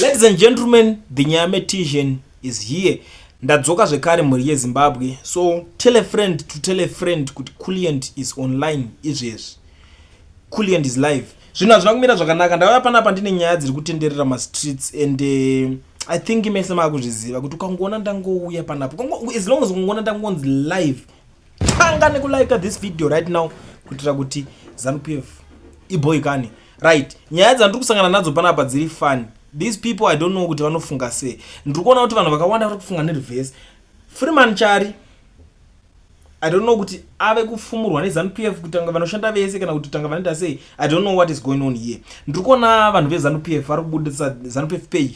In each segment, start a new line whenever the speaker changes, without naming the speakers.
Ladies and gentlemen, the Nyame Tijan is here. Ndadzoka zvekare mhuri yeZimbabwe. So tell a friend to tell a friend kuti Kulliant is online izvezvi. Kulliant is live. Zvinhu hazvina kumira zvakanaka. Ndauya panapa ndine nyaya dziri kutenderera mastreets and uh, I think mese makuzviziva kuti ukangoona ndangouya panapa. As long as ukangoona ndangonzi live tanga nekulika this video right now kuitira kuti zanu p f iboy kani right nyaya dzandiri kusangana nadzo panapa dziri fani these people i don't know kuti vanofunga sei ndiri kuona kuti vanhu vakawanda vari kufunga nerevhesi freeman chari i don't know kuti ave kufumurwa nezanu p f kutanga vanoshanda vese kana kuti tanga vanoita sei i don't know what is going on here ndiri kuona vanhu vezanu p f vari kubudisa zanu p f page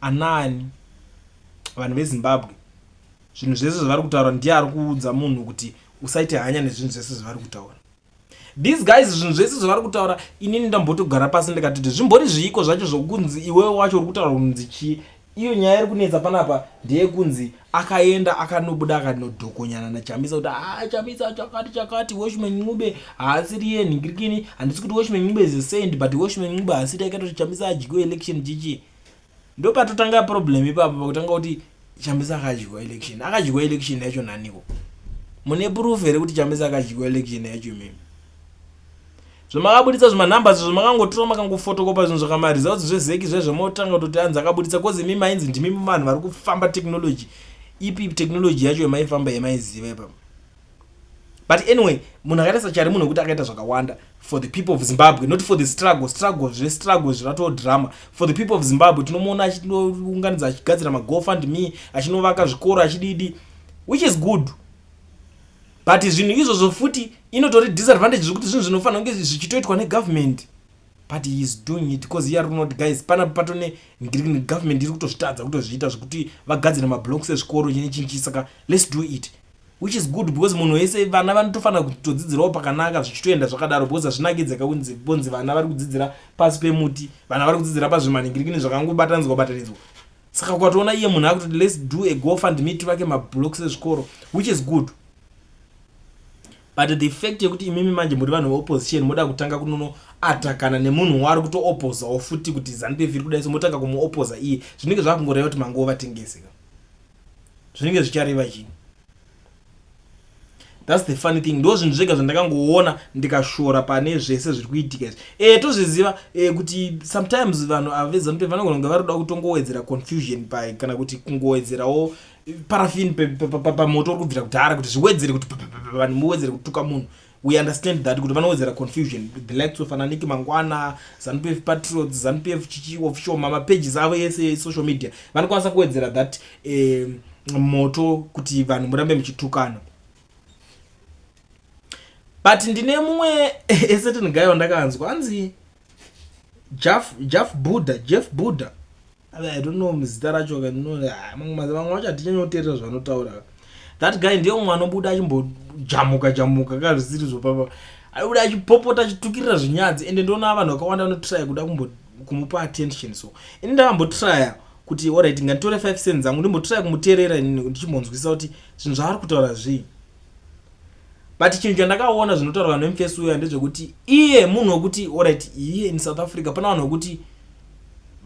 Anaani vanhu vezimbabwe zvinhu zvese zvavari kutaura ndiye ari kuudza munhu kuti usaite hanya nezvinhu zvese zvavari kutaura these guys zvinhu zvese zvavari kutaura inini ndambotogara pasi ndikatiti zvimbori zviiko zvacho zvokunzi iwewe wacho uri kutaura kunzi chii iyo nyaya iri kunetsa panapa ndeyekunzi akaenda akanobuda akanodhokonyana nachamisa kuti haa ah, chamisa chakati chakati washman ncube haasiri ye nhingirikini handisi kuti washman ncube is a saint but washman ncube haasiri yakaita kuti chamisa adyiwe election chichi ndopatotanga problem ipapo pakutanga kuti chamisa akadyiwa election akadyiwa election yacho naniko mune proof here kuti chamisa akadyiwa election yacho imimi zvamakabuditsa zvima numbers zvamakangotora makangofotokopa zvinhu zvaka ma results zvezeki zvezvo motanga kutoti anzi akabuditsa cause imi mainzi ndimi vanhu vari kufamba technology ipi technology yacho yamaifamba yamaiziva ipapa but anyway munhu akaita sachari munhu wekuti akaita zvakawanda for the people of zimbabwe not for the struggle struggle zvestruggle zviratoo drama for the people of zimbabwe tinomuona achinounganidza achigadzira magofund me achinovaka zvikoro achididi which is good but zvinhu izvozvo futi inotori disadvantage zvekuti zvinhu zvinofanira kunge zvichitoitwa negovernment but he is doing it because here not guys pana patone government iri kutozvitadza kutozviita zvekuti vagadzire mablocks ezvikoro chine chinchi saka let's do it which is good because munhu wese vana vanotofanira kutodzidzirawo pakanaka zvichitoenda zvakadaro because hazvinakidzeka kunzi bonzi vana vari kudzidzira pasi pemuti vana vari kudzidzira pazvimaningirikini zvakangobatanzwa batanidzwa saka ukatoona iye munhu akutoti let's do a go fund me tivake mablocks ezvikoro which is good but the fact yekuti imimi manje muri vanhu veopposition moda kutanga kunono atakana nemunhu waari kutoopozawo futi kuti zanupf iri kudai so motanga kumuopoza iye zvinenge zvakungoreva kuti mangova vatengesi ka zvinenge zvichareva chii thats the funny thing ndo zvinhu zvega zvandakangoona ndikashora pane zvese zviri kuitika izvi e, tozviziva e, kuti sometimes vanhu avezanu vanogona kunge vari kuda kutongowedzera confusion pa kana kuti kungowedzerawo parafin pamoto uri kubvira kudhara kuti zviwedzere kuti vanhu muwedzere kutuka munhu we understand that kuti vanowedzera confusion the likes of ananiki mangwana zanupf patriots zanupf chichi official mamapages avo ese esocial media vanokwanisa kuwedzera that eh, moto kuti vanhu murambe muchitukana but ndine mumwe esetin guy wandakanzwa anzi jaf jaf buddha jeff buddha i don't know muzita racho vamwe vacho hatichanyoterera zvavanotaura that guy ndiye umwe anobuda achimbojamuka jamuka ka zvisiri zvopapa aibuda achipopota achitukirira zvinyadzi ende ndionaa vanhu vakawanda vanotraya kuda kumupa attention so ini ndakambotraya kuti orit nganditore five cent dzangu ndimbotraya kumuteerera inini ndichimbonzwisisa kuti zvinhu zvaari kutaura zvii but chinhu chandakaona zvinotaurwa nemfesi uya ndezvekuti iye munhu wekuti orit iye in south africa pana vanhu vekuti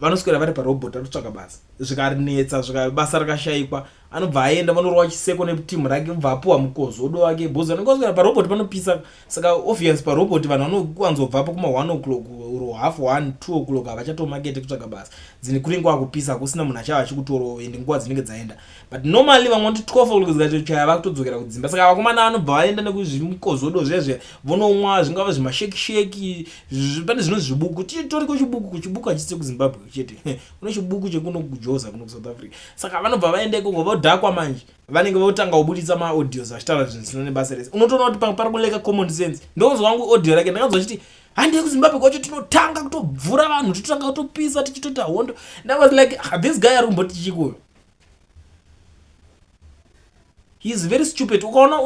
vanoswera vari parobot anotsvaka basa zvikarinetsa zvika basa rakashaikwa anobva aenda vanorova chiseko netimu rake obva apuwa mukozo odo wake bhozi anenge aswera parobot panopisa saka obvious parobot vanhu vanowanzobvapo kuma one o'clock ro half one two o'clock havachatomakete kutsvaga basa dzine kuringe wakupisa hakusina munhu achava achikutorova ende nguva dzinenge dzaenda but normally vamwe vanoti 12 o'clock dzikatochaya vakutodzokera kudzimba saka vakomana vanobva vaenda nekuzvimukozodo zviya zviya vonomwa zvingava zvimashekisheki pane zvino zvibuku titori kuchibuku kuchibuku hachisi chekuzimbabwe chete kune chibuku chekuno kujoza kuno kusouth africa saka vanobva vaenda ikoko vodhakwa manje vanenge votanga kubuditsa maaudios vachitaura zvinhu zvisina nebasa rese unotoona kuti pamwe pari kuleka common sense ndokunzwa wangu audio rake ndakanzwa chiti handei kuzimbabwe kwacho tinotanga kutobvura vanhu totanga kutopisa tichitoita hondo ndawas like ah, this guy ari kumboti chikuyo he is very stupid ukaona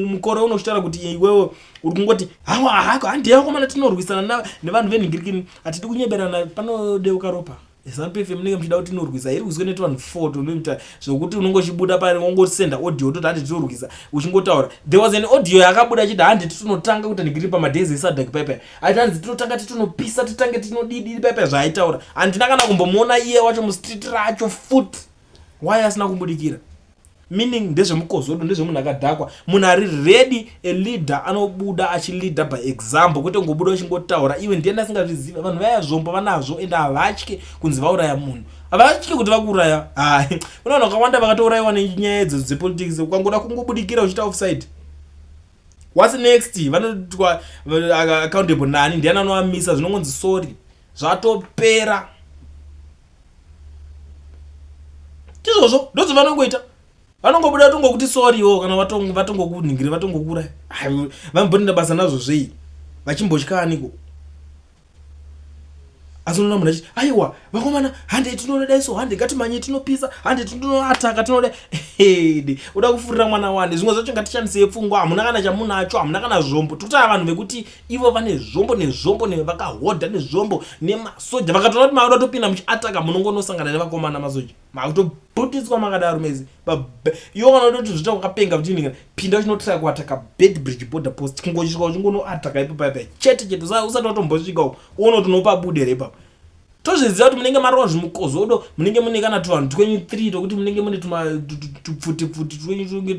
mukore uno uchitaura kuti iwewe uri kungoti hawa hako handiye vakomana tinorwisana nevanhu venhingirikini hatidi kunyeberana panodeuka ropa zanu pfm munenge muchida kuti inorwisa hairi rwiswe neti vanhu four tonoita zvokuti unonge uchibuda pari wongosenda audio utoti handi tinorwisa uchingotaura there was an audio yakabuda achiti handi titinotanga kutanhingiriri pamadays esadak paipai aiti hanzi tinotanga titonopisa titange tinodidiri paipa zvaaitaura handina kana kumbomuona iye wacho mustreet racho fut waye asina kumbudikira meaning ndezvemukozodo ndezvemunhu akadhakwa munhu ari ready a leader anobuda achileader by example kwete kungobuda uchingotaura iwe ndiye ndasingazviziva vanhu vaya zvombo vanazvo ende havatye kunzi vauraya munhu havatye kuti vakuuraya hai kuna vanhu vakawanda vakatourayiwa nenyaya idzodzo dzepolitics ukangoda kungobudikira uchita offside whats next vanoitwa accountable nani ndiani anovamisa zvinongonzi sorry zvatopera tizvozvo ndozvo vanongoita vanongobuda vatongokuti sorry wo kana vatongokunhingiri vatongokura vambonenda basa nazvo zvei vachimbotya aniko asi unoona munhu achiti aiwa vakomana hande tinoda daiso hande ngatimanye tinopisa hande tinoataka tinoda hede uda kufurira mwana wani zvimwe zvacho ngatishandisei pfungwa hamuna kana chamunacho hamuna kana zvombo totava vanhu vekuti ivo vane zvombo nezvombo nevakahodha nezvombo nemasoja vakatoona kuti maoda topinda muchiataka munongonosangana nevakomana masoja makutobhutidzwa makadaro mezi yo kana utoti zviita kwakapenga vachinhinga pinda uchinotraya kuataka bed bridge border post kungosvika uchingonoataka ipopaipa chete chete sa usati watombosvika uko uona kuti unopabude here ipapa tozviziva kuti munenge marova zvimukozodo munenge mune kana tuvanhu twenyu three tokuti munenge mune tupfutipfuti twenyu tunge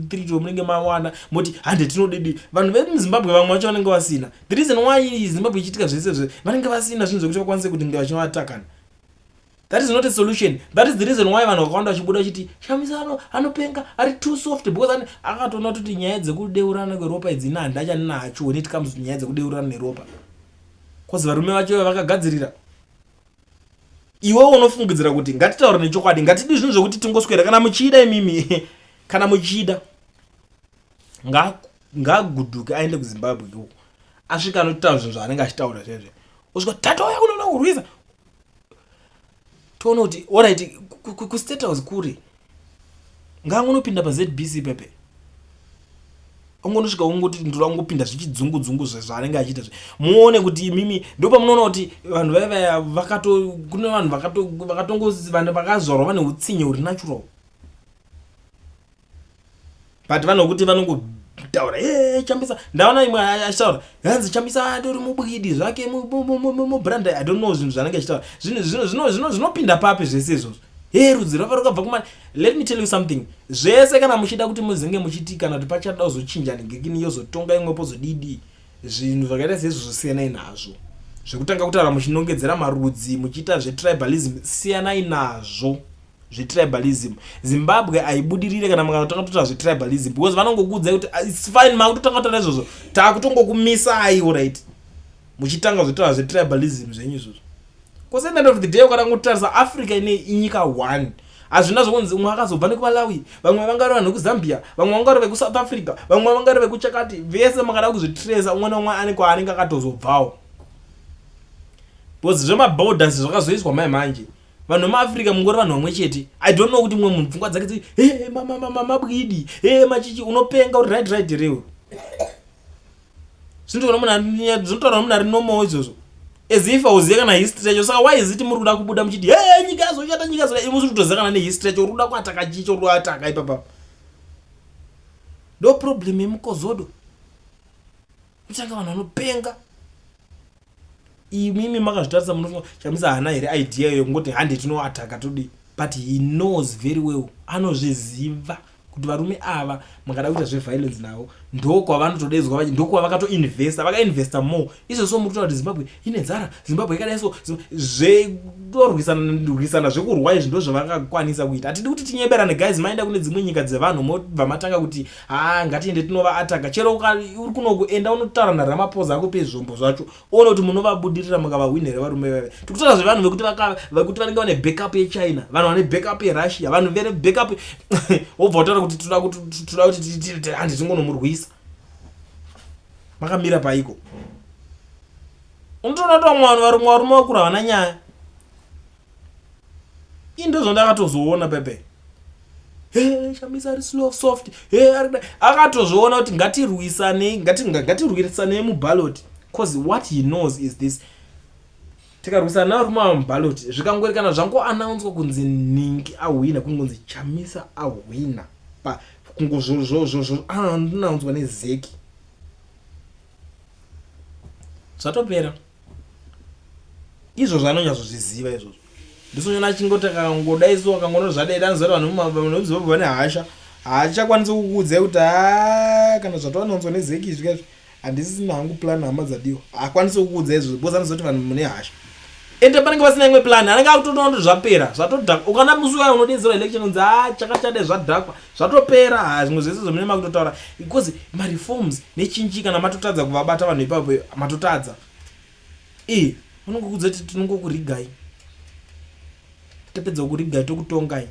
three tomunenge mawana moti hande tinodidi vanhu vemuzimbabwe vamwe vacho vanenge vasina the reason why zimbabwe ichiitika zvese zve vanenge vasina zvinhu zvekuti vakwanise kuti nge vachinovatakana that is not a solution that is the reason why vanhu vakawanda vachibuda vachiti shamisa ano anopenga ari too soft because akatoona kuti nyaya dzekudeurana kweropa idzi ina handinda chandinacho when it comes to nyaya dzekudeurana neropa bcause varume vacho iva vakagadzirira iwewo unofungidzira kuti ngatitaure nechokwadi ngatidi zvinhu zvekuti tingoswera kana muchida imimi kana muchida ngaguduke aende kuzimbabwe iwo asvika anotaura zvinhu zvaanenge achitaura zvezve osvika tatoya kunoda kurwisa toona kuti orit kustate house kuri ngangonopinda pazbc ipepe ongonosvika ongoti ndoda kungopinda zvichidzungu dzungu zvaanenge achiita zve muone kuti imimi ndopamunoona kuti vanhu vaya vaya vakato kune vanhu vakatongoziva vakazvarwa vane utsinye huri natural but vanhu vokuti vanongotaura e eh, chambisa ndaona imwe achitaura hanzi chambisa atori mubwidi zvake mubrand i don't know zvinhu zvanenge achitaura zvinopinda papi zvese izvozvo he rudzi rava rukabva kumana let me tell you something zvese kana muchida kuti muzinge muchiti kana kuti pachada kuzochinja negekini yozotonga imwe pozodidii zvinhu zvakaita seizvozvo siyanai nazvo zvekutanga kutaura muchinongedzera marudzi muchiita zvetribalism siyanai nazvo zvetribalism zimbabwe haibudirire kana mukatanga kutotaura zvetribalism because vanongokuudzai kuti ah, its fine makutotanga kutaura izvozvo takutongokumisai orit muchitanga zvetaura zvetribalism zvenyu izvozvo Cause at the end of the day ukada kutarisa Africa ine inyika one hazvina zvokunzi umwe akazobva nekumalawi vamwe vangari vanhu vekuzambia vamwe vangari vekusouth africa vamwe vangari vekuchakati vese makada kuzvitresa umwe neumwe ane kwaanenge akatozobvawo because zvemaborders zvakazoiswa mai manje vanhu vemaafrica mungori vanhu vamwe chete i don't know kuti mumwe munhu pfungwa dzake dzi he mabwidi he machichi unopenga uri right right rewe zvinotaura munhu ari normal izvozvo as if auziva kana history yacho saka why is it muri kuda kubuda muchiti he nyika yazoshata nyika yazoda ivo zvi kutoziva kana nehistory yacho uri kuda kuataka chii chouri kuataka ipapa ndo problem yemukozodo kutanga vanhu vanopenga imimi makazvitarisa munofunga chamisa hana here idea iyo kungoti hande tinoataka todi but he knows very well anozviziva kuti varume ava makada kuita zveviolence navo ndokwavanotodedzwa vachi ndokwavakatoinvesta vakainvesta more izvozvo muri kutaura kuti zimbabwe ine nzara zimbabwe yakadai so zvekurwisana zvekurwa izvi ndozvavakakwanisa kuita hatidi kuti tinyeberane guys maenda kune dzimwe nyika dzevanhu mobva matanga kuti haa ngatiende tinova ataka chero uri kunoku enda unotaura naramaphosa akupe zvombo zvacho one kuti munovabudirira mukavahwini here varume vave tikutaura zvevanhu vekuti vekuti vanenge vane backup yechina vanhu vane backup yerussia vanhu vere backup wobva utaura kuti toda kuti handi tingonomurwisa makamira paiko unotoona kuti vamwe vanhu varume varume vakura havana nyaya i ndozvandakatozoona pepe he shamisa ari slow soft he akatozviona kuti ngatirwisanei ngatirwisanei mubaloti bcause what he knows is this tikarwisana narume ava mubaloti zvikangoerekana zvangoanaunswa kunzi ningi ahwina kungonzi chamisa ahwina pa kungozvozvozvozvoanaunswa nezeki zvatopera izvozvo anonyatsozviziva izvozvo ndisonyona achingoti akangoda isu akangono zvadeda anozvati vanhu vanoziva vane hasha hachakwanisi kukuudzai kuti ha kana zvatovanonzwa nezeki izvi kaizvo handisisina hangu plan hama dzadiwa hakwanisi kukuudzai izvozvo because anozoti vanhu mune hasha ende panenge pasina imwe plan anenge akutotoona kuti zvapera zvatodhakwa ukana musi waya unodeedzerwa election unzi ha chakachade zvadhakwa zvatopera haa zvimwe zvese zvomene makutotaura because mareforms nechinji kana matotadza kuvabata vanhu ipapo matotadza e vanongokudza kuti tinongokurigai tapedza kurigai tokutongai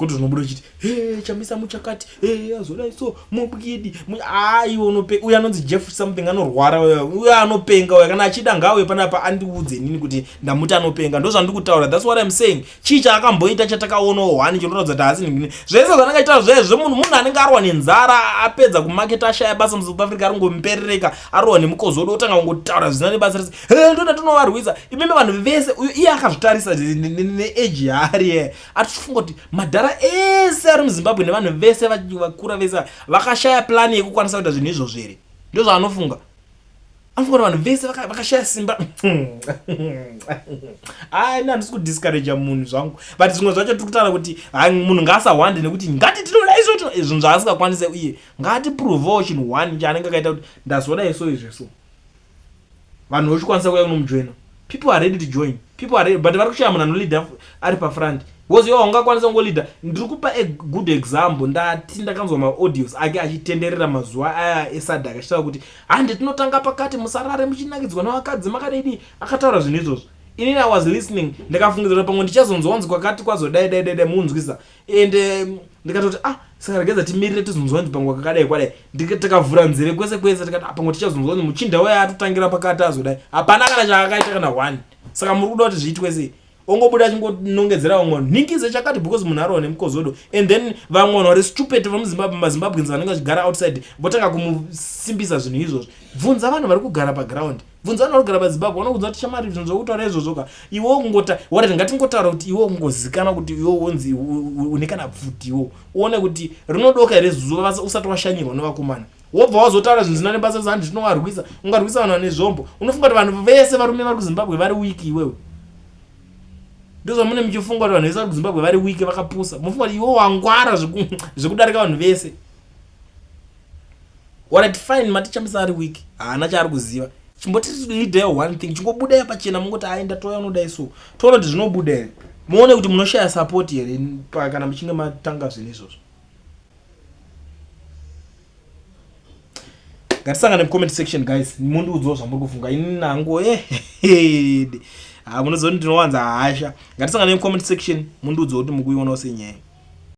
kuti zvinobuda uchiti he chamisa muchakati he azodai so mubwidi aiwe unope uyo anonzi jeff something anorwara uyo anopenga uyo kana achida ngauye panapa andiudze nini kuti ndamuti anopenga ndozvandikutaura thats what im saying chii chaakamboita chatakaonawo hwani chinoratidza kuti haasi nhingi zvese zvanenge achiita zvezvo munhu munhu anenge arwa nenzara apedza kumaketa ashaya basa musouth africa aringomuperereka arwa nemukozi wodo otanga kungotaura zvisina nebasa rese he ndoda tinovarwisa imimi vanhu vese uyo iye akazvitarisa neeji yaari ye atichifunga kuti madhara ese ari muzimbabwe nevanhu vese vakura vese vakashaya plani yekukwanisa kuita zvinhu izvozvo here ndozvaanofunga anofanira vanhu vese vakashaya simba ai na handisi kudiscouraja munhu zvangu but zvimwe zvacho tiri kutaura kuti hai munhu ngaasahwande nekuti ngati tinoda isoto izvinhu zvaasingakwanise uye ngatiprovewo chinhu one chaanenge akaita kuti ndazoda iso izveso vanhu vochikwanisa kuya kunomujoina people are ready to join people are ready but vari kushaya munhu anoleader ari pafront because iwe haungakwanisa kungoleader ndiri kupa a good example ndati ndakanzwa maaudios ake achitenderera mazuva aya esadak achitaura kuti hande tinotanga pakati musarare muchinakidzwa nevakadzi makadidi akataura zvinhu izvozvo inini i was listening ndikafungidzira pamwe ndichazonzwanzi kwakati kwazodai dai dai dai munzwisa and um, ndikatoti ah sakaregedza timirire tizonzwa nzi pangwa kakadai kwadai takavhura nzeve kwese kwese tikati ah, pangwa tichazonzwa nzi muchinda waye atotangira pakati azodai hapana kana chakakaita kana one saka muri kuda kuti zviitwe sei ongobuda achingonongedzera vamwe vanhu nhingize chakati because munhu arova nemukozodo and then vamwe vanhu vari stupid vamazimbabwens vanenge vachigara outside votanga kumusimbisa zvinhu izvozvo bvunza vanhu vari kugara paground bvunza vanhu vanogara pazimbabwe vanokuudza kuti shamari zvinhu zvokutaura izvozvo ka iwe kungota whatever ngatingotaura kuti iwe kungozikana kuti iwe wonzi une kana pfuti iwo uone kuti rinodoka here zuva basa usati washanyirwa nevakomana wobva wazotaura zvinhu zvisina nebasa kuti handi zvinovarwisa ungarwisa vanhu vane zvombo unofunga kuti vanhu vese varume vari kuzimbabwe vari wiki iwewe ndozvamune muchifunga kuti vanhu vese vari kuzimbabwe vari wiki vakapusa mufunga kuti iwe wangwara zvekudarika vanhu vese Alright fine maticha musari weak haana chaari kuziva chimboti leader one thing chingobuda ya pachena mungoti ayi ndatouya unodai so toona kuti zvinobuda here muone kuti munoshaya support here kana muchinge matanga zvinhu izvozvo ngatisangane mucomment section guys mundiudzawo zvamuri kufunga ini nangu eh, ehede ah, munoziva kuti ndinowanza hasha ngatisangane mucomment section mundiudzawo kuti mukuionawo senyaya